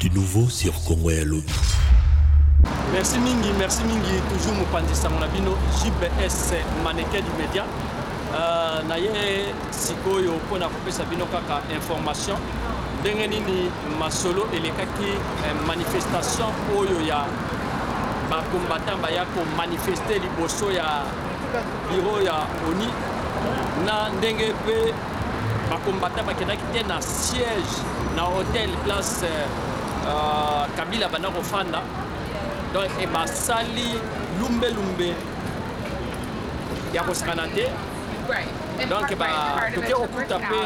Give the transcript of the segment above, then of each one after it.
Du nouveau sur Congo ya Lobi. Merci mingi, merci mingi. Toujours mopanzi sango na bino JBS Maneke du Media. Uh, na ye sikoyo mpo na kopesa bino kaka information ndenge nini masolo elekaki eh, manifestation oyo ya bacombattant baya komanifeste liboso ya biro ya oni na ndenge mpe Ba combattants bakendaki te na siège na hotel place euh, euh Kabila banda kofanda donc e basali lumbe lumbe ya kosakana te donc toke kokuta mpe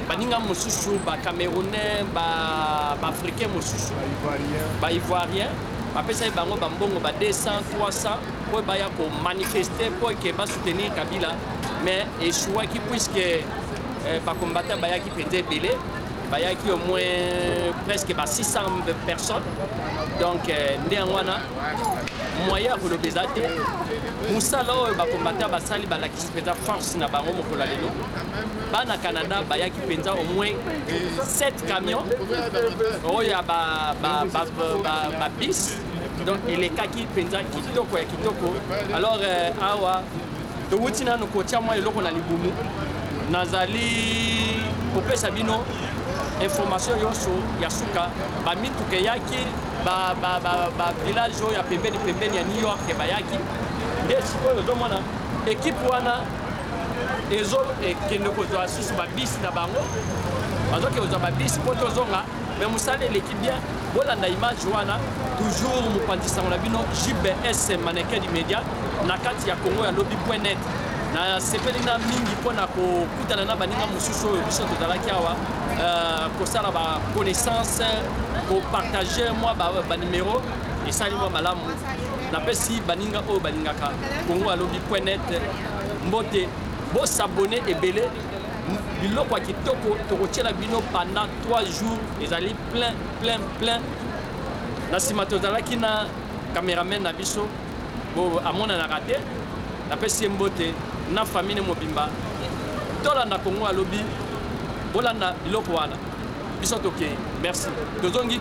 baninga mosusu bacamerounais baafricain mosusu baivoirien bapesaki bango bambongo ba 200 300 mpo baya komanifeste mpo eke basoutenir kabila mais echouaki puisque euh, bacombatant bayaki mpenza ebele bayaki au moins presque ba 600 personnes donc euh, nde yango wana moyen ya koloba eza te mosala oyo bakombata basali balakisi mpenza force na bango mokolo ya lelo bana canada bayaki mpenza au moins 7 camion oyo ya babis donc elekaki mpenza kitoko ya kitoko alors euh, awa Towuti nanu kotia mwa eloko na libumu, nazali kopesa bino information yonso ya suka bamituka eyaki bavillage oyo ya pembeni pembeni ya new york bayaki nde sikoyo ozomona ekipe wana ezokende kozwa susu babisi na bango bazokende kozwa babisi mpo tozonga Mais musala eleki bien, bolanda image wana toujours mopanzi sango na bino JBS Mannequin du Media na kati ya Congo ya lobi.net. nasepeli na mingi mpo na kokutana na baninga mosusu oyo biso tozalaki awa euh, kosala ba connaissance kopartage mwa banimero esali mwa malamu napesi baninga oyo balingaka kongo alobi poinet mbote bosabone ebele biloko ya kitoko tokotyela bino panda 3 jours ezali plein plein plein na nsima tozalaki na cameraman na biso bo amonanaka te napesi ye mbote na famille mobimba tolanda kongo alobi bolanda biloko wana biso tokei merci tozongi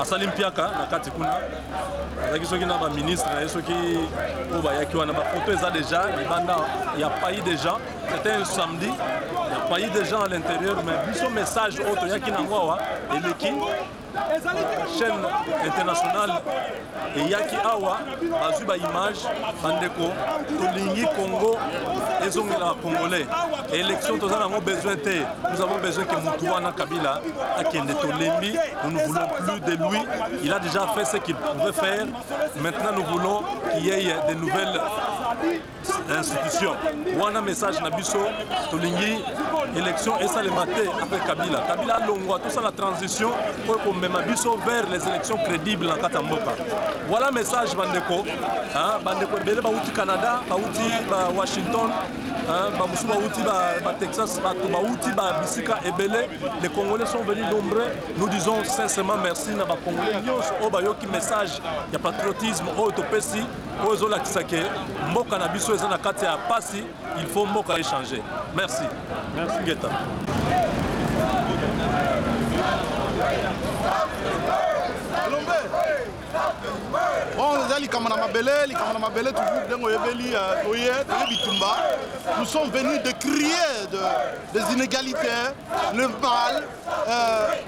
asali mpiaka na kati kuna azalaki soki na baministre na ye soki oyo bayaki wana bafoto eza déjà libanda ya pai déjà c'était un samedi ya pai déjà à l'intérieur mais biso message oyo toyaki na yango awa eleki chaîne internationale eyaki awa bazwi ba image bandeko tolingi congo ezongela congolais élection toza nango besoin te nous avons besoin que mutu wana kabila akende tolembi nous ne voulons plus de lui il a déjà fait ce qu'il pouvait faire maintenant nous voulons qu'il y ait de nouvelles institution wana message na biso tolingi élection esalema te après kabila kabila alongwa tosala transition oyo ekomema biso vers les élections crédibles na kati ya mboka voilà message bandeko bandeko ebele bauti canada bauti ba washington bamosusu bauti batexas bato bauti babisika ebele les congolais sont venus nombreux nous disons sincèrement merci na bacongolais nyonso oyo bayoki message ya patriotisme oyo topesi oyo ezolakisa ke mboka na biso eza na kati ya pasi il faut mboka echange merci merci ngeta bon eza likambo na mabele likambo na mabele toujours ndenge oyebeli euh, oye toye bitumba nous sommes venus de crier de, des inégalités le mal euh,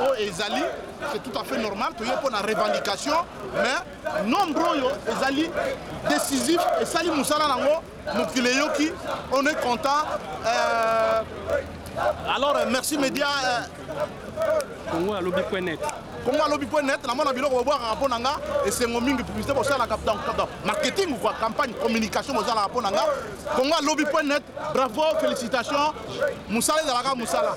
oyo ezali c'est tout à fait normal toye mpo na revendication mais nombre oyo ezali décisif esali mosala nango mokili eyoki on est content euh, alors euh, merci média euh, congo alobi point net congo alobi point net namona biloko bobwakaka mpo na nga esengo mingi publicité bosalaka marketing kua campagne communication bosalaka mpo na nga congo alobi point net bravo félicitation mosala ezalaka mosala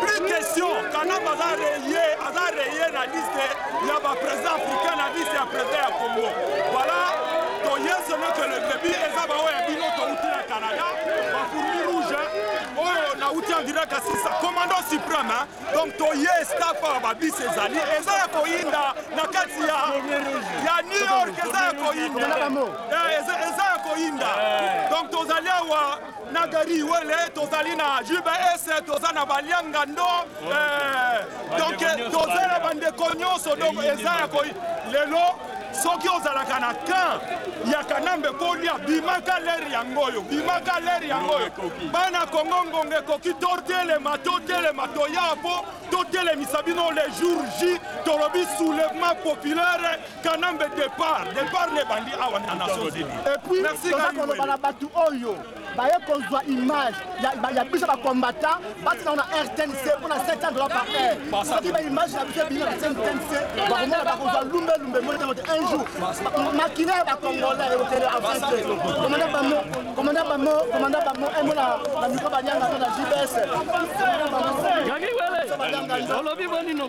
Plus question, Kanamba aza reye, aza reye na liste ya ba président africain na liste ya président ya Congo. Voilà, toye solo que le début eza ba oyo ya bino touti na Canada, ba fourmi rouge, oyo na uti en direct à Sissa, commandant suprême, hein? donc toye staff ya ba bis ezali, eza ya koyinda na kati ya ya New York, eza ya koyinda, Eh, eza eza ya koyinda, donc tozali awa na gari wele tozali na jbs toza na balianga ndo eh, donc toza na bandeko nyonso donc eza ya koi lelo soki ozalaka na kan ya kanambe kolia bimaka leri yango oyo bimaka leri yango oyo bana kongo ngongo ekoki totelema totelema toya mpo totelemisa bino le jour j tolobi soulèvement populaire Kanambe départ, départ ne bandi awa na Nations Unies. Et puis, merci koloba na batu oyo baye kozwa image ya biso ba combattant batina ona rtnc mpona 700 dollars par heure soki ba image na biso ebimi na rtnc bakomona bakozwa lumbe lumbe moni tango te un jour makina ya bacongolais ekokende avance komanda bamo komanda bamo komanda bamo emona na mikro banyanga to na jbs olobi bonino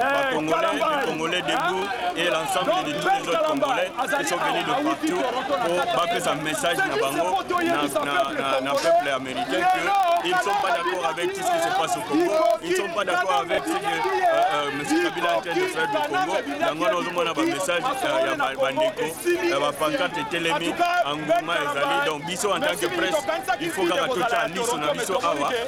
Eh, Congolais, Congolais debout et l'ensemble de tous les autres Congolais qui sont venus de partout pour bappeler un message na bango na peuple américain que ils ne sont pas d'accord avec tout ce qui se passe au Congo, ils ne sont pas d'accord avec ce que euh, euh, M. Kabila est en train de faire du Congo. Yango na ozomona ba message euh, ya bandeko ya ba pancarte etelemi anguma ezali donc biso en tant que presse il faut kaka totya liso na biso awa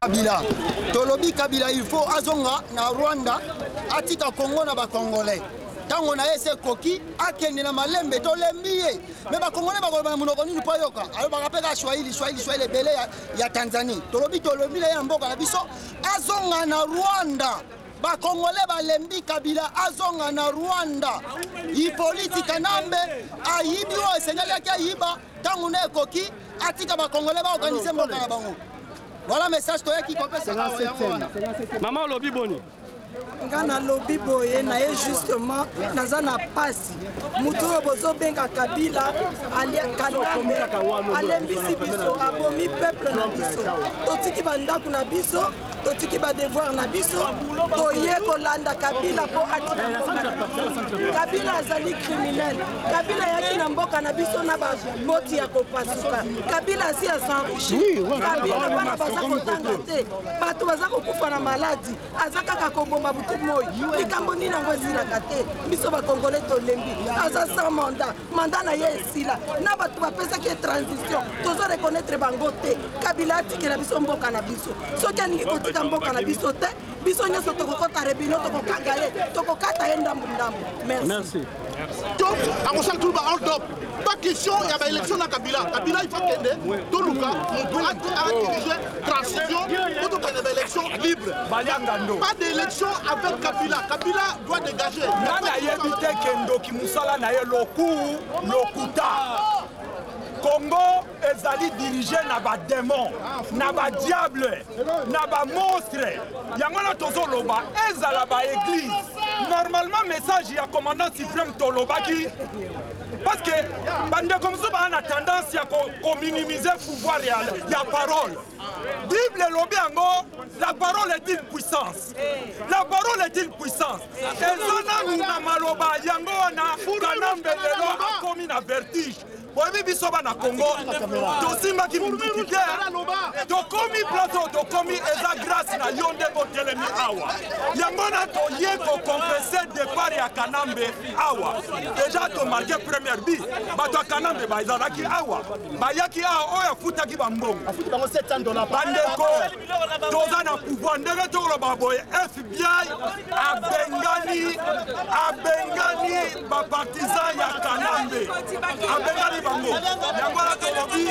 Kabila tolobi Kabila il faut azonga na Rwanda atika Congo na ba Congolais ntango na ye se ekoki akende na malembe tolembi ye me bakongole bakoloba na monoko nini mpo ayoka alobaka mpe kaka swahili swahili swahili ebele ya, ya tanzanie tolobi tolobi na ye na mboka na biso azonga na rwanda bakongole balembi kabila azonga na rwanda ipoliti kanambe ayibi oyo esengelaki ayiba Tango ne ekoki atika ba congolais ba organiser mboka na bango. Voilà message toyaki kopesa awa yango wana. Mama olobi boni? nga nalobi boye na ye justement naza na pasi moto oyo bozobenga kabila alembisi biso abomi peuple na biso totiki bandako na biso totiki badevoir na biso toye kolanda kabila mpo kabila azali criminel kabila ayaki na mboka na biso na bamoti ya kopasuka kabila asi asenrichi kabila bana baza kotanga te bato baza kokufa na maladi aza kaka kobomba butu moi likambo nini yango esilaka te biso bakongole tolembi aza sans mandat mandat na ye esila na bato bapesaki ye transition tozo reconnaître bango te kabila atikela biso mboka na biso soki alingi kotika mboka na biso te biso nyonso tokokota rebino tokokanga ye tokokata ye ndambu ndambu merci donc akosala tulu ba hold up pas question ya baélection na kabila kabila il faut kende toluka moto adirige Transition, autre que des élections libres. Pas d'élection avec Kabila. Kabila doit dégager. Nana yebi te kendo ki musala na ye loku lokuta. Congo ezali dirige na bademon na badiable na bamonstre yango wana tozoloba ezala baeglize normalement message ya commandant supreme tolobaki Parce que bandeko mosusu baa na tendance ya kominimize ko pouvoir ya, ya parole bible elobi yango la parole est une puissance la parole est une puissance eza nanu na maloba yango wana kanambe lelo akomi na vertige boyebi biso bana congo tosimbaki mundiki te tokomi place oyo tokomi eza grâce na yo nde botelemi awa yango na toye kokonfese depart ya kanambe awa deja to marke première bi bato ya kanambe bazalaki awa bayaki awa oyo afutaki bambongo bandeko toza na pouvoir ndenge tokoloba boye fbi abengani abengani bapartisan ya kanambe abengani bango yango wana tolobi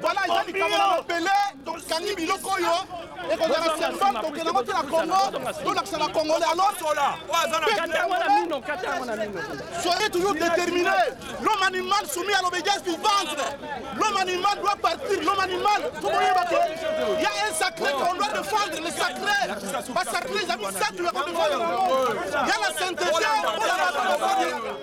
Voilà, eza likambo na mabele tokangi biloko oyo ekozala symbole tokenda yango te na congo tolakisa na congolais alors soyez toujours déterminé l'homme animal soumis à l'obédience du ventre l'homme animal doit partir l'homme animal tokoyeba te ya un sacré qu'on doit défendre le sacré basacré ezali satu ya kodefendre yango ya la sainteté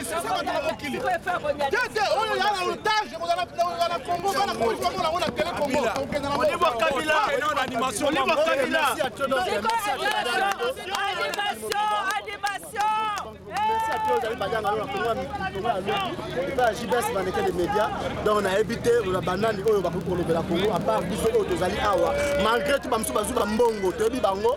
esesa bato na mokili te te oyo ya na otage ekozala na kongo bana polisi bamona yango na tele kongo tokenda jbs bandeke de média donc nayebi te banani oyo bakoki kolobela kongo apart biso oyo tozali awa malgré tout bamosusu bazwi bambongo toyebi bango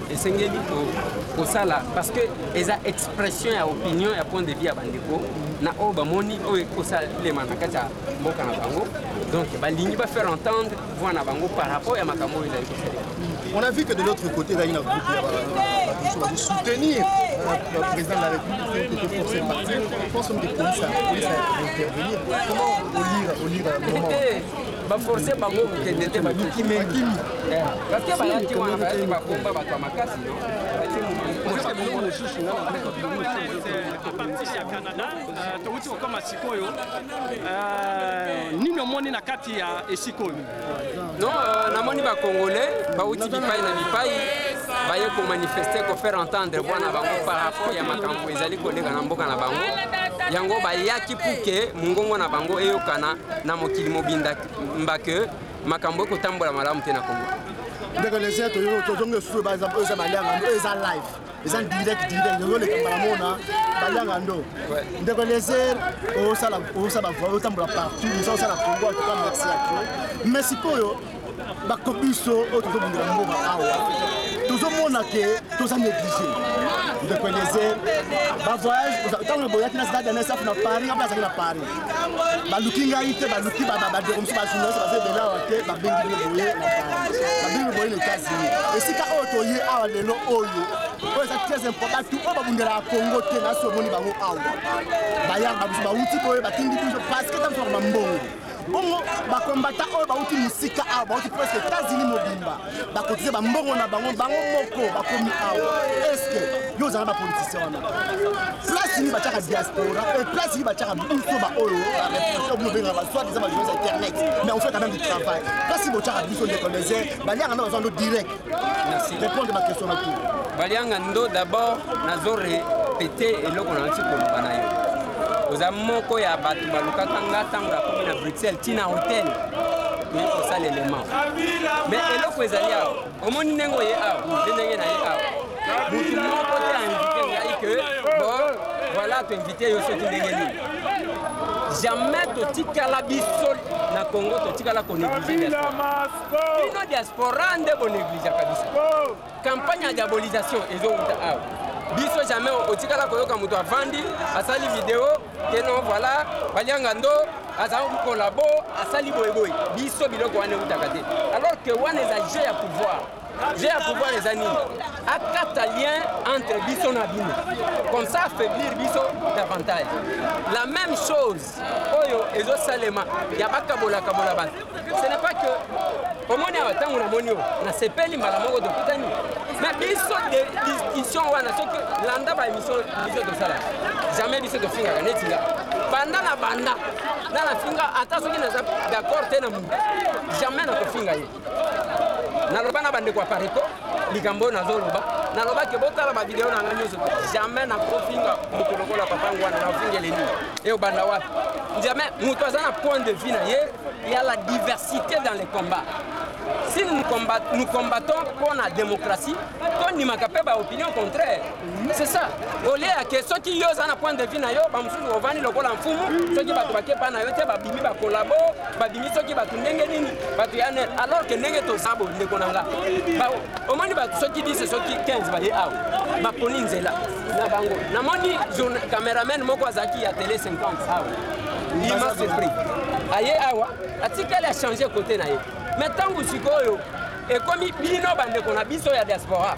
esengeli kosala parce que eza expression ya opinion ya point de vue ya bandeko na oyo bamoni oyo ekosalema na kati ya mboka na bango donc balingi bafaire entendre voi na bango par rapport ya makambo oyo ezali kosalema on a vu que de l'autre côté ezali na groupe ya bato bazo soutenir président de la république que force parti pense que police a intervenir comment olire olire moment ba forcer bango kokende te baluki mingi eh, parce que bayaki wana bayaki bakomba bato ya makasi no apartir ya canada euh, touti kokoma sikoyo euh, nini omoni na kati ya esika oyo no euh, namoni bacongolais bauti bipai na bipai baye komanifeste kofaire entendre voix na bango par rapport ya makambo ezali koleka na mboka na bango yango bayaki puke mongongo na bango eyokana na mokili mobinda mba ke makambo ekotambola malamu te na kongo ndeko lesia tozongi esusu eza balianga ndo eza live eza direct direct ezoleka mbala mona balianga ndo ndeko leser osala bavoi otambola partout oza osala kongo atuka merci ya to mais sikoyo bako biso oyo tozobundela mboka awa tozomona ke toza néglige ndeko eliezer bavoyage ntango boyaki na stade nsf na paris apo azalaki na paris baluki ngai te baluki badeko mosusu bajournaliste baza ebele awa te babengi bino boye na paris babengi boye na états-unis esika oyo toye awa lelo oyo oyo eza très important tu oyo babundelaka congo te nasi omoni bango awa bayanga biso bauti boye batindi biso parce que ntango tozaka bambongo bongo bakombata oyo bauti mosika awa bauti presque etats-unis mobimba bakotize bambongo na bango bango moko bakomi awa eske yo ozala bapolitisien wana place nini batiaka diaspora e place nini batiaka biso baoyo obengaka baswat eza bajournaliste internet mais on fait quand même du travail place nini botiaka biso ndeko lezer baliaka nde baza ndo direct Merci. Répondre ma question na tout. Balianga ndo d'abord nazo répéter eloko na nti koloba na yo. Oza moko ya bato balukaka nga ntango nakomi na Bruxelles ntina hotel toyei kosala element. Mais eloko ezali awa. Omoni ndenge oye awa, nde ndenge na ye awa. Moto moko te a invité ngai que bon voilà to invité yo soki ndenge nini. Jamais totikala biso na Congo totikala konéglige. bino diaspora nde bonegligeaka biso campagne ya diabolisation ezowuta awa biso jamais otikala koyoka moto avandi asali video keno voilà balianga ndo aza kolabo asali boyeboye biso biloko wana ewutaka te alors que wana eza jeu ya pouvoir jeu ya pouvoir eza nini akata lien entre biso na bino comme ça affaiblir biso davantage la même chose oyo ezosalema ya bakabolakabola bato ce n'est pas que omoni awa ntango namoni yo nasepeli mbala moko tokutani na biso de discussion wana soki landa baémission biso tosala jamais biso tofingaka neti nga banda na banda na nafinga ata soki naza d'accord te na motu jamais nakofinga ye naloba na bandeko ya pareco likambo oyo nazoloba nalobaki botala bavideo na ngai nyonso jamais nakofinga moto lokola papa yango wana nafingele nini eyobanda wapi jamais moto aza na point de vue na ye ya la diversité dans les combats si nous, combat, nous combattons mpo na démocratie tondimaka mpe baopinion contraire C'est ça. Au lieu ya que soki yo oza na point de vue na yo bamosusu ovandi lokola mfumu soki bato bakepa na yo te babimi bakolabo babimi soki bato ndenge nini bato ya nene alors que ndenge toza bo ndeko na nga omoni bato soki 10 soki 15 baye awa baponi nzela na bango namoni cameraman moko azalaki ya tele 50 awa lima sepri aye awa atikali achange kote na ye me ntango sikoyo ekomi bino bandeko na biso ya diaspora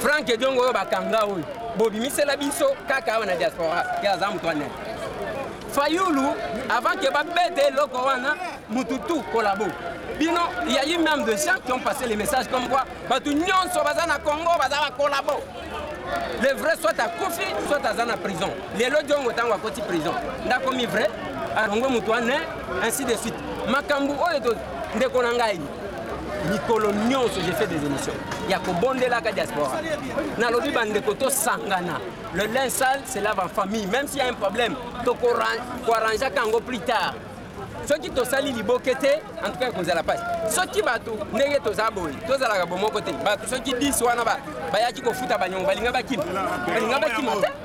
Frank Ediongo oyo bakanga oyo bobimisela biso kaka awa na diaspora ke aza moto ane Fayulu avant ke babete eloko wana mutu tout collabo bino il y a eu même des gens qui ont passé les messages comme quoi bato nyonso baza na Congo baza ba collabo le vrai soit akufi soit aza na prison lelo Diongo ntango akoti prison ndakomi vrai alongwe moto ane ainsi de suite makambo oyo ndeko na ngai mikolo nyonso je fais des émissions ya kobondelaka diaspora nalobi bandeko tosangana le lin sale se lave en famille même s'il y a un problème tokoarrangeaka yango plus tard soki tosali liboke te en tout cas ekozala mpasi soki bato ndenge toza boye tozalaka bomoko te bato soki 10 wana bayaki kofuta banyongo balinga bakima balinga bakima te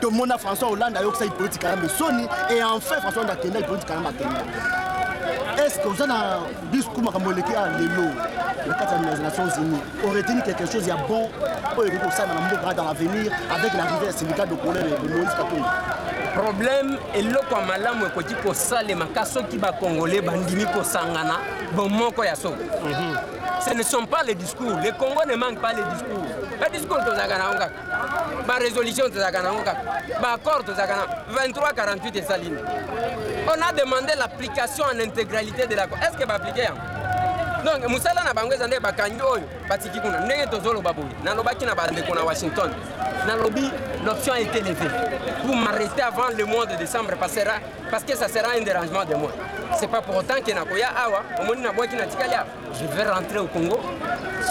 tomona françois hollande ayokisa ipoliti kalambe soni et enfin françois hollande akenda ipoliti kalambe akenda est ce que oza na discours makambo eleki ya lelo na kati ya les nations unies oreteni quelque chose ya bon oyo ekoki kosala na mboka dans l'avenir avec l'arrivée ya syndicat de colère de moïse katumbi problème eloko ya malamu ekoki kosalema ka soki bakongole bandimi kosangana bomoko ya soko mhm. ce ne sont pas les discours le congo ne manque pas les discours badiscours tozalaka na yango kaka barésolution tozalaka nango kaka baaccord tozalaka na 2348 esalini on a demandé l'application en intégralité de l'accord est ce que baaplike yango donc mosala na bango eza nde bakangi oyo batiki kuna ndenge tozoloba boye nalobaki na bandeko na washington nalobi l'option est élevée pour m'arrêter avant le mois de décembre passera parce que ça sera un dérangement de moi c'est pas pour autant que nakoya awa omoni nabwaki natikali awa je vais rentrer au Congo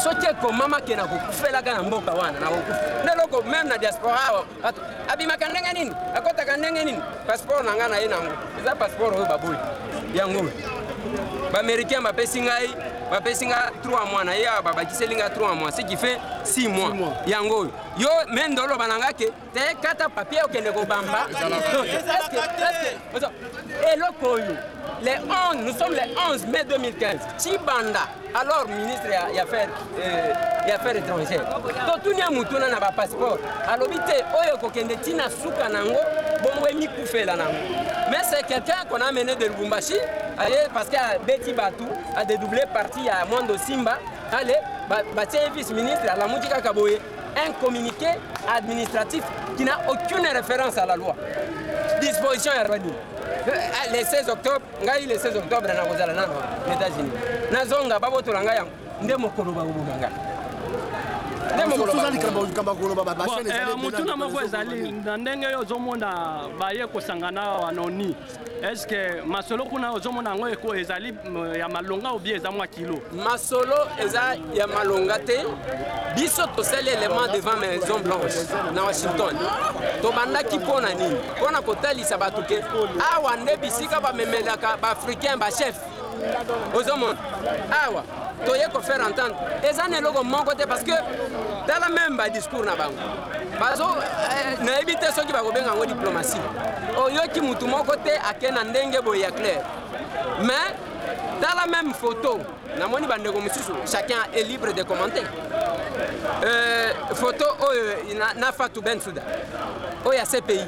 soki ekomama ke nakokufelaka na mboka wana nakokufa nde eloko meme na diaspora awa bato abimaka ndenge nini akotaka ndenge nini passeport na ngai na ye nango eza passeport oyo baboli yango oyo baaméricain bapesi ngai bapesi ngai 3 mois na ye awa babakiseli ngai 3 mois ce qui fait 6 mois yango oyo yo mende oloba na ngai ke te kata papier okende kobamba eloko oyo le 11 nous sommes le 11 mai 2015 chibanda alors ministre ya, ya affaire euh, ya affaire étrangère totuni ya motuna na bapasseport alobi te oyo ekokende ntina suka na yango bongo emikufela na yango mais c'est quelqu'un qu'on a mené de lubumbashi aye parce que abeti bato adedouble parti ya mondo simba ale batie ye vice ministre alamuki kaka boye un communiqué administratif qui n'a aucune référence à la loi. Disposition ya Rwanda. Euh, ah, le 16 octobre, ngai le 16 octobre na kozala na aux États-Unis. Nazonga babotola ngai yango nde mokolo bakoboma ngai. motuna moko ezali na ndenge yo ozomona baye kosangana awa na oni est ce que masolo kuna ozomona yango eko ezali euh, ya malonga obie eza mwa kilo masolo eza ya malonga te biso tosali element devant maison blanche na washington tobandaki mpo na nini mpo na kotalisa bato ke awa nde bisika bamemelaka baafricain bachef ozomona awa toye kofaire entendre eza na eloko moko te parce que tala meme badiscours na bango bazo eh, nayebi te soki bakobenga yango diplomatie oyoki motu moko te ake na ndenge boye ya claire mais tala meme photo namoni bandeko mosusu chacun est libre de commenter euh, photo oyo na, na fatou ben souda oyo ya cpi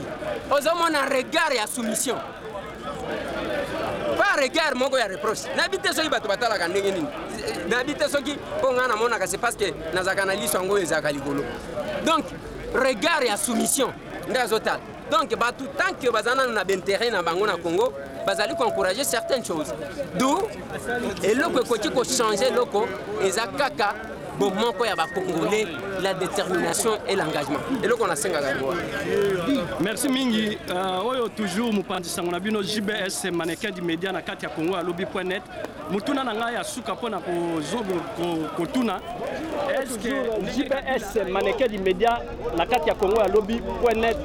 ozomona regard ya soumission par regard moko ya reproche nayebi te soki bato batalaka ndenge nini nayebi te soki mpo ngai namonaka se parce que nazalaka na liso yango oyo ezalaka likolo donc regard ya soumission nde azotala donc bato tant que baza nano na bainteret na bango na congo bazali koencourage certaines choses d'où eloko ekoki kochange eloko eza kaka bomoko ya bacongolais la détermination et l'engagement eloko nasengaka yango merci mingi uh, oyo toujours mopanzi sango na bino jbs manequin du média na kati ya congo ya lobi point net motuna na ngai ya suka mpo na kotuna eske jbs manequin du média na kati ya congo ya lobi point net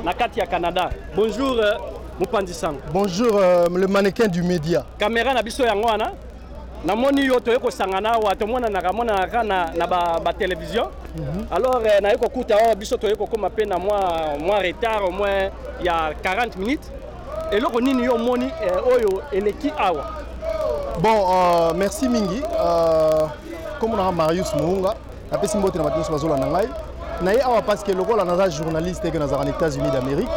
na kati ya canada bonjour euh, mopanzi sango bonjour euh, le manequin du média caméra na biso yango wana na moni yo toye kosangana awa tomonanaka monanaka kaka na, na ba, ba television mm -hmm. alors eh, naye kokuta awa biso toye kokoma mpe na mwa mwa retard au moins ya 40 minutes eloko nini yo omoni eh, oyo eleki awa bon uh, merci mingi uh, euh, komonaka marius mounga napesi mbote na bato nyonso bazolanda ngai na ye awa parce que lokola naza journaliste eke nazalaka na états-unis d'amérique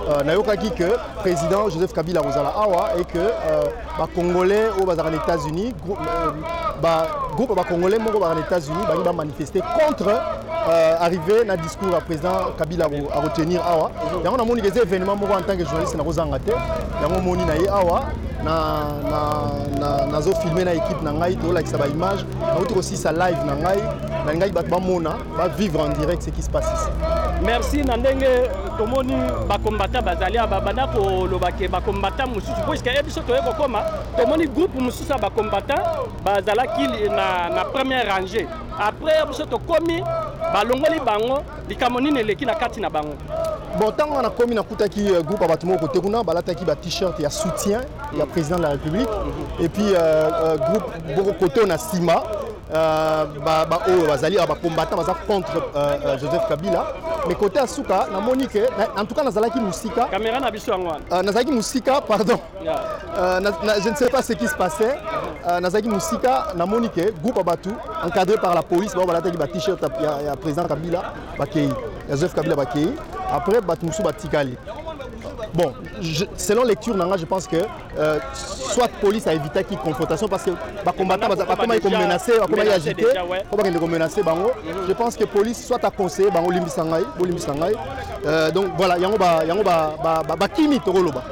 euh, nayokaki que président joseph kabila akozala awa et que euh, bacongolais oyo bazalaka na états-unis euh, bagroupe ya bacongolais moko bazalaka na états-unis bangi bamanifeste contre euh, arrivé na discours ya président kabila akotenir awa yango namoni keza événement moko en tant que journaliste nakozanga te yango omoni na ye awa nazofilme na, na, na, na équipe na ngai tolakisa baimage Nauti kosisa live na ngai, nalingaki bato bamona, ba vivre en direct ce qui se passe ici. Merci na ndenge tomoni ba combattants bazali aba banda koloba ke ba combattants mosusu mpo esika ye biso toye kokoma tomoni groupe mosusu ya ba combattants bazalaki na, na première rangée après ya biso tokomi balongoli bango likambo nini eleki na kati na bango bon ntango wana nakomi nakutaki euh, groupe ya bato moko kote kuna balataki ba t-shirt ya soutien ya président de la république mhm. et puis euh, euh, groupe boko koto na sima euh, ba ba oyo bazali ba combattant baza contre euh, euh, Joseph Kabila mais côté ya suka namoni que en tout cas nazalaki musika caméra na biso yango wana nazalaki musika pardon je ne sais pas ce qui se passait nazalaki musika namoni que groupe ya bato encadré par la police bao balataki ba t-shirt ya président Kabila bakei ya Joseph Kabila bakei après bato mosusu batikali bon je, selon lecture nanga je pense que Euh, soit police a évité qui confrontation parce que ba combattant ba comment ils menacer ba comment ils agiter ko ba ko menacer bango mhm. je pense que police soit a conseillé bango limbisa ngai bo limbisa ngai euh, donc voilà yango ba yango ba ba, ba, ba kimi to loba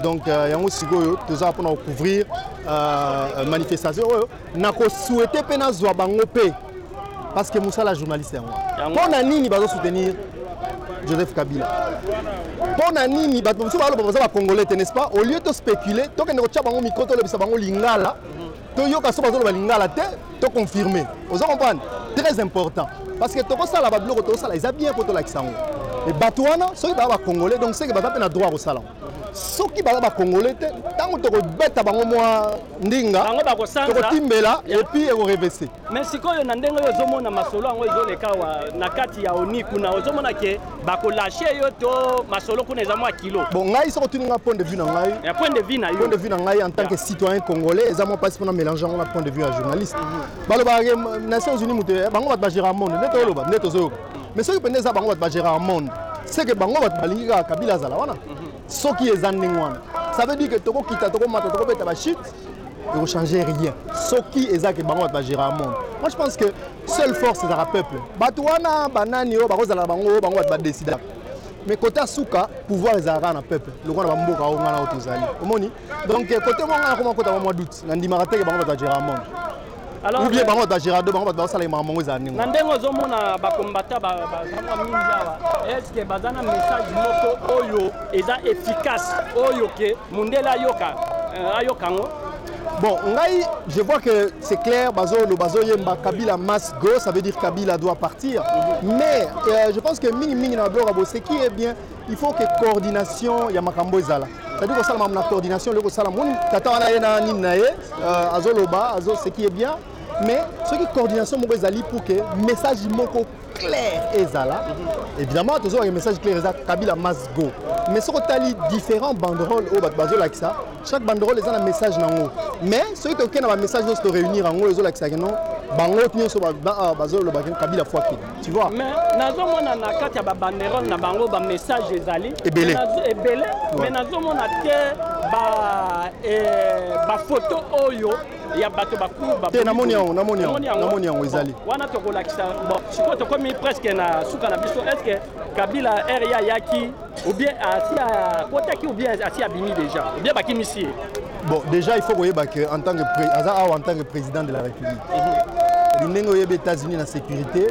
donc euh, yango sikoyo toza pona couvrir euh, manifestation oyo nako souhaiter pe nazwa bango pe parce que musala ya journaliste yango mpo na nini bazo soutenir joseph kabila mpo na nini bato mosusu baloba baza bacongolais te n'est-ce pas au lieu to spéculer tokende kotya bango mikro tolobisa bango lingala toyoka so bazoloba lingala te toconfirme oza comprendre très important parce que tokosala babiloko tokosala eza bien mpo tolakisa yango e bato wana soki baa bacongolais donc seke baza mpe na droit ya kosala yango soki baza bakongole te ntango tokobeta bango mwa ndinga tokotimbela epuis ekorevese mais sikoyo na ndenge oyo ozomona masolo yango ezoleka wa na kati ya oni kuna ozomona ke bakolashe yo to masolo kuna eza mwa kilo bon ngai soko otuni ngai point de vue na ngai ya point de vue na yo point de vue na ngai en tant que citoyen congolais eza mwa mpasi mpona mélange yango na point de vue ya journaliste mhm. balobaka ke nations unis moto bango bato bagera monde nde toloba nde tozoyoka mais soki mpenza eza bango bato bagera en monde seke bango bato balingi kaka kabila azala wana mhm. soki eza ndenge wana ça veut dire que tokokita tokomata tokobeta bachute ekochange rien soki eza ke bango bato bagera monde moi je pense que seule force ezaka peuple bato wana banani oyo bakozala na bango bango bato badesida mais kota suka pouvoir ezalaka na peuple lokola na bamboka oyo ngana oyo tozali omoni donc kote moko ngai nakoma kota mwa doute nandimaka teke bango bato ya geramond ou bien bango bato ya gerado bango bato baosala makambo yango ezala ndenge na ndenge ozomona bakombata bazanga mingi awa estce baza na message moko oyo eza efficace oyo ke mondele ayoka euh, ayoka yango Bon, Ngai, je vois que c'est clair, Bazo, le Bazo Yemba, Kabila Mas Go, ça veut dire Kabila doit partir. Mais euh, je pense que Ming Ming Nabora, c'est qui est bien il faut que coordination ya makambo ezala c'est-à-dire kosala makambo na coordination loko sala moni tata wana ye na nini na ye euh, azoloba azo ce qui est bien mais soki coordination moko ezali pour que message moko clair ezala évidemment tozwaka message clair eza kabila must go mais soki otali différents banderole oyo bato bazolakisa chaque banderole eza na message na yango mais soki tokei na bamessage nyonso toréunir yango ezolakisaki non bango nyonso bazolobaki kabila fwakili tu vois mais nazomona na kati ya babanderole na bango bamessage ezali ebele ebele mais nazomona te bafoto eh, ba oyo ya bato bakute namoni yango namoni yango namoni yango ezali wana tokolakisa bon sikoyo tokomi presque na suka na biso est ce que kabila area ayaki ou bien asi akotaki ou bien asi abimi déjà ou bien bakimisi ye bon déjà il faut koyeba que en tant que aza awa en tant que président de la république mhm. ndenge oyebi états-unis na sécurité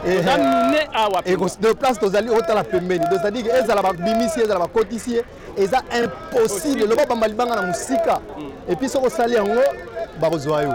de place tozali otala pembeni c'est-à-dire que ezala babimisi ezala bakotisi ye eza impossible loba bamba libanga na mosika mhm. epuis soki osali yango bakozwa yo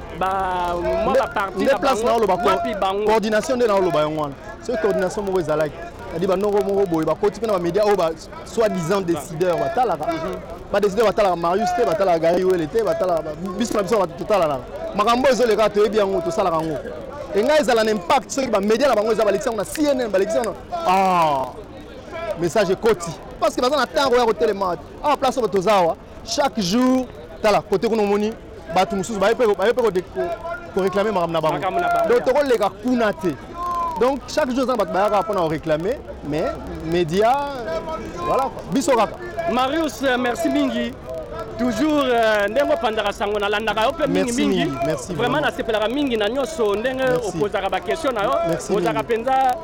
nde place naoloba coordination nde naoloba yango wana soki coordination moko ezalaki adi banoko moko boye bakoti mpe na bamédia oyo basoi disant décideur batalaka mhm. badécideur batalaka marius te batalaka gari wele te batalaka biso na biso totalanaka makambo oyo ezoleka toyebi yango tosalaka yango engai ezala na impact soki bamédia na bango eza balekisi yango na cnn balekisi yango ah, message ekoti parce que baza na ntango ya kotelema awa ah, place oyo toza awa Chaque jour tala kote kuna omoni bato mosusu baye mpe koreklame makambo na bango donc tokoleka kuna te donc chaque jour eza na bato bayaka mpona koreklame mais média voilà biso kaka marius euh, merci mingi toujours euh, ndenge opandaka sango nalandaka yo mpe mingi mingi vraiment nasepelaka mingi na nyonso ndenge opozaka baquestion na yo ozalaka mpenza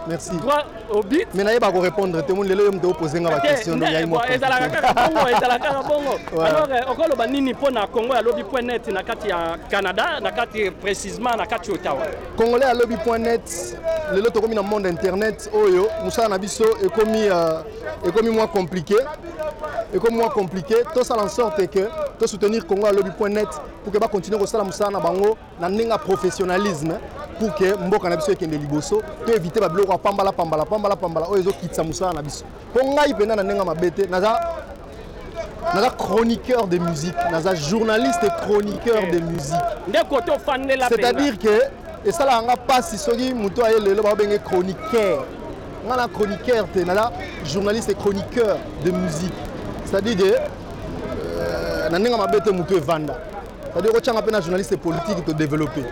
obi mais na ye ba ko répondre te moni lelo yo mto poser nga ba question no yayi moko ezalaka kaka bongo ezalaka kaka bongo alors euh, okolo ba nini po na Congo ya lobi point net na kati ya Canada na kati précisément na kati Ottawa Congolais ya lobi point net lelo tokomi na monde internet oyo musala na biso ekomi euh, ekomi moins compliqué ekomi moins compliqué to sala en sorte que to soutenir Congo ya lobi point net pour que ba continuer ko sala musala na bango na ndenge ya professionnalisme pour que mboka na biso ekende liboso to éviter ba biloko ya pambala pambala pambala pambala oyo ezokitisa mosala na biso mpo ngai mpenza na ndenge ya mabe te naza naza chroniqueur de musique naza journaliste et chroniqueur de musique ndeko tofandela c'est-à-dire que esalaka nga mpasi soki moto aye lelo baobenge chroniqueur nga na chroniqueur te naza journaliste et chroniqueur de musique c'est-à-dire que euh, na ndenge ya mabe te moto evanda C'est-à-dire que tu as un journaliste politique te développer.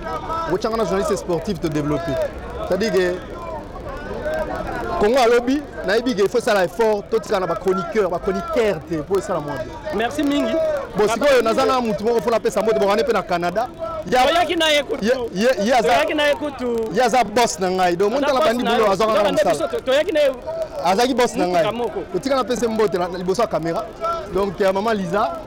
Tu as un journaliste sportif te développer. C'est-à-dire que Congo à lobby, il faut ça l'effort, tout ça, les chroniqueurs, les chroniqueurs, pour ça la moindre. Merci Mingi. Bon, si vous avez un mouton, il faut la paix, ça m'a dit, on est Canada. oyaki na ye kutuoyaki na ye kutu ye aza boss na ngai donc moni tala bandi bilo azwaka nga mosala toyaki na ye azalaki boss na ngai otika napesa mbote liboso ya caméra donc ya mama liza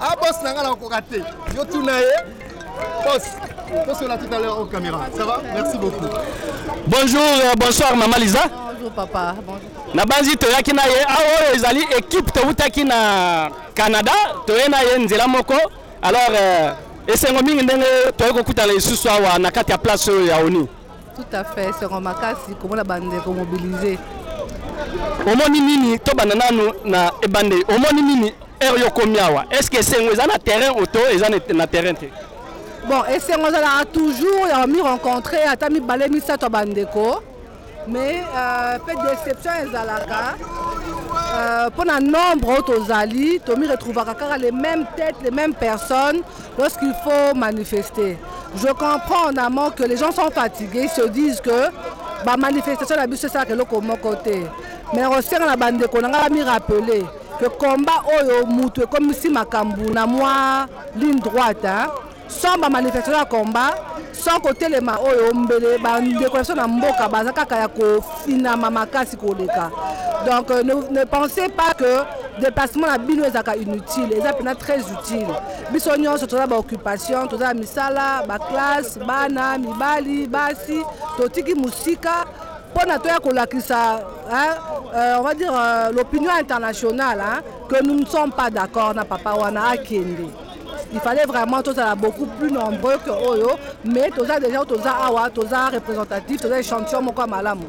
Ah boss nanga na koka te. Yo tuna ye. Boss, on se la tout à l'heure aux caméras. Ça va Merci beaucoup. Bonjour, euh, bonsoir maman Lisa. Bonjour papa. Bonjour. nabanzi toyaki na ye awa oyo ezali ekipe towutaki na canada toye na ye nzela moko alors euh, esengo mingi ndenge toyei kokutana lisusu awa na kati ya place oyo ya oni Tout à fait, esengo makasi komona bandeko mobilise. Omoni nini tobanda nanu na ebandeli, omoni nini heure yo komi awa? Est ce que esengo eza na terrain oto eza na terrain te? Bon, esengo ezalaka toujours ya mi rencontrer ata mibale misato ya bandeko mais euh, mpe déception ezalaka mpo euh, na nombre oyo tozali tomi retrouvaka kaka les mêmes têtes les mêmes personnes Lorsqu'il faut manifester, je comprends en amont que les gens sont fatigués, ils se disent que ba manifestation na biso esalaka eloko moko te mais nakosenga na bandeko na ngai bami rappeler que combat oyo mutu ekomisi makambo na mwa ligne droite hein? sans ba manifestation ya combat sans kotelema oyo mbele bandeko na biso na mboka baza kaka ya kofinama makasi koleka donc euh, ne, ne pensez pas que déplacement na bino ezalaka inutile eza mpena très utile biso nyonso toza baoccupation toza na misala baklasse bana mibali basi totiki mosika mpo na toya kolakisa euh, on va dire euh, l'opinion internationale hein, que nous ne sommes pas d'accord na papa wana akende il fallait vraiment tozala beaucoup plus nombreux que oyo mais toza déjà toza awa toza représentatif toza échantillon moko ya malamu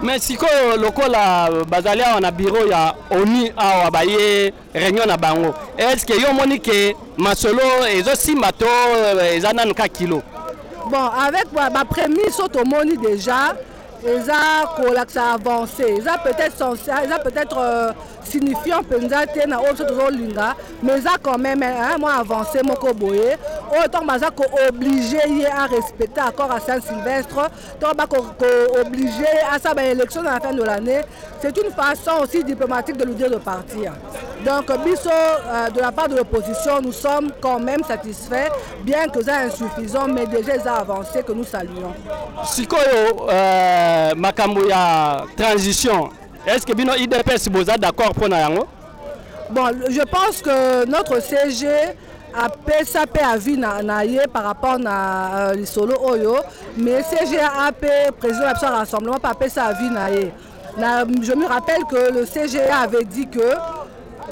mais sikoyo lokola bazali awa na biro ya onu awa baye réunion na bango est ce que yo omoni ke masolo ezosimba to eza nanu ka kilo bon avec baprémisse oyo tomoni déjà eza kolakisa avance eza peut-être eza peut-être euh, signifiant mpenza te na oyo biso tozolinga mais eza quand même mwa avance moko boye oyo ntango baza kooblige ye arespecte accord à saint sylvestre ntango bakooblige ye asala baélection na la fin de l'année c'est une façon aussi diplomatique de lui dire de partir donc biso euh, de la part de l'opposition nous sommes quand même satisfaits bien que eza insuffisant mais déjà eza avancé que nous saluons sikoyo euh, makambo ya transition est ce que bino idps boza d'accord mpo na yango bon je pense que notre cg apesa mpe avis na, na ye par rapport na euh, lisolo oyo mais cg ape président na biso ya rassemblement mpe apesa avis na ye Na, je me rappelle que le CGA avait dit que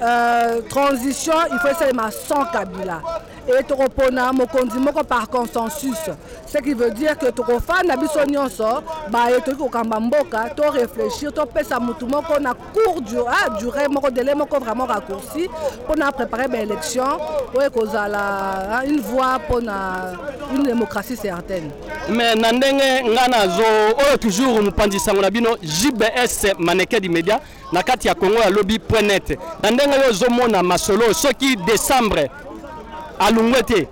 euh, transition il faut esalema sans Kabila et tokopona mokonzi moko par consensus ce qui veut dire que tokofanda biso nyonso baye toki kokamba mboka to réfléchir topesa motu moko na cour du, ah, durée moko délai moko vraiment raccourci mpona préparer baélection oyo ekozala une voie mpona une démocratie certaine mais na ndenge nga nazo oyo toujours mopanzi sango na bino jbs maneke di media na kati ya congo ya lobi point net na ndenge yo ozomona masolo soki décembre alungwe te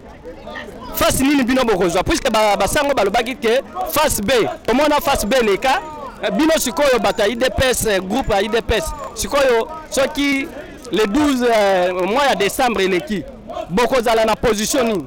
face nini bino bokozwa puisque basango balobaki ke face b omona face b leka eh, bino sikoyo bato ya idps eh, groupe ya idps sikoyo soki le 12 eh, mois ya décembre eleki bokozala na position nini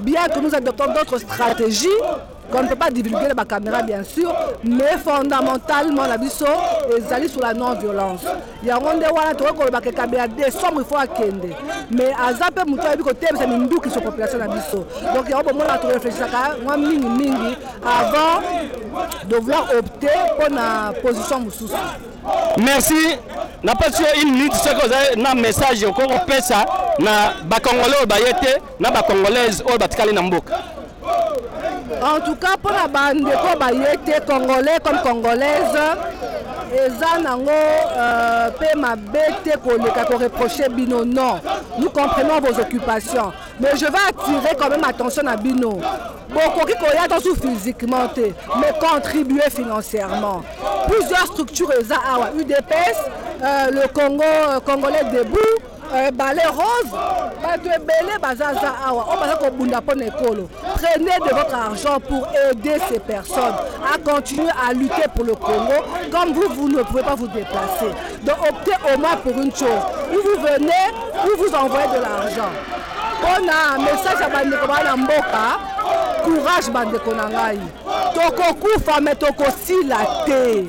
Bien que nous adoptons d'autres stratégies, qu'on ne peut pas divulguer la caméra bien sûr, mais fondamentalement la biso ezali sur la non-violence. Yango nde wana tokoki koloba ke Kabila décembre il faut akende. Mais aza mpe moto ayebi kotebisa minduki sur population na biso. Donc yango bomona toreflechisaka mwa mingi mingi avant de vouloir opter mpo na position mosusu. merci napesi yo une minute soki oza na message okoki kopesa na bakongole oyo baye te na ba congolaise oyo batikali na mboka en tout cas mpo na bandeko baye te congolais comme congolaise eza nango euh, mpe mabe te koleka koreproche bino non nous comprenons vos occupations mais je vais attirer quand même attention na bino bokoki koya to su physiquement te mais contribuer financièrement plusieurs structures eza awa udps euh, le congo euh, congolais debout Eh, bale rose bato ebele bazaza awa oyo baza kobunda mpo na ekolo prenez de votre argent pour aider ces personnes à continuer à lutter pour le congo comme vous vous ne pouvez pas vous déplacer donc optez au moins pour une chose ou vous venez ou vous envoyez de l'argent mpo na message ya bandeko baa na mboka courage bandeko na ngai tokokufa me tokosila te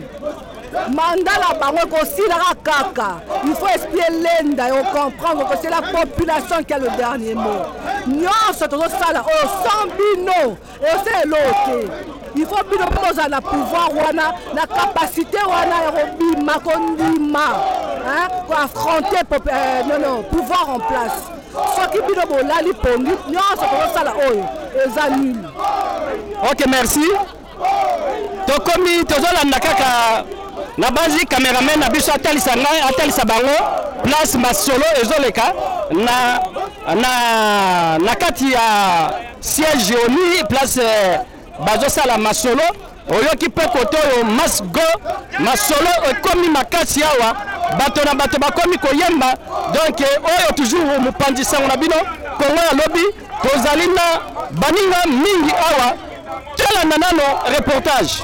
mandat na bango ekosilaka kaka il faut esprit elenda yo comprendre que c'est la population qui a le dernier mot nyonso tozosala oyo oh, sans bino eza eloo te il faut bino mpe bozala na pouvoir wana na capacité wana ya kobima kondima koaffronter euh, non non pouvoir en place soki bino bolali pongi nyonso tozosala oyo oh, eza nini ok merci tokomi tozolanda kaka nabanzi cameraman na biso atalisa ngai atalisa bango place masolo ezoleka na, na, na kati ya siège oni place eh, bazosala masolo oyoki mpe koto oyo masgo masolo ekomi makasi awa bato na bato bakomi koyemba donk eh, oyo toujours mopanzi sango na bino kongo ya lobi Tozali na baninga mingi awa, tolanda nano reportage.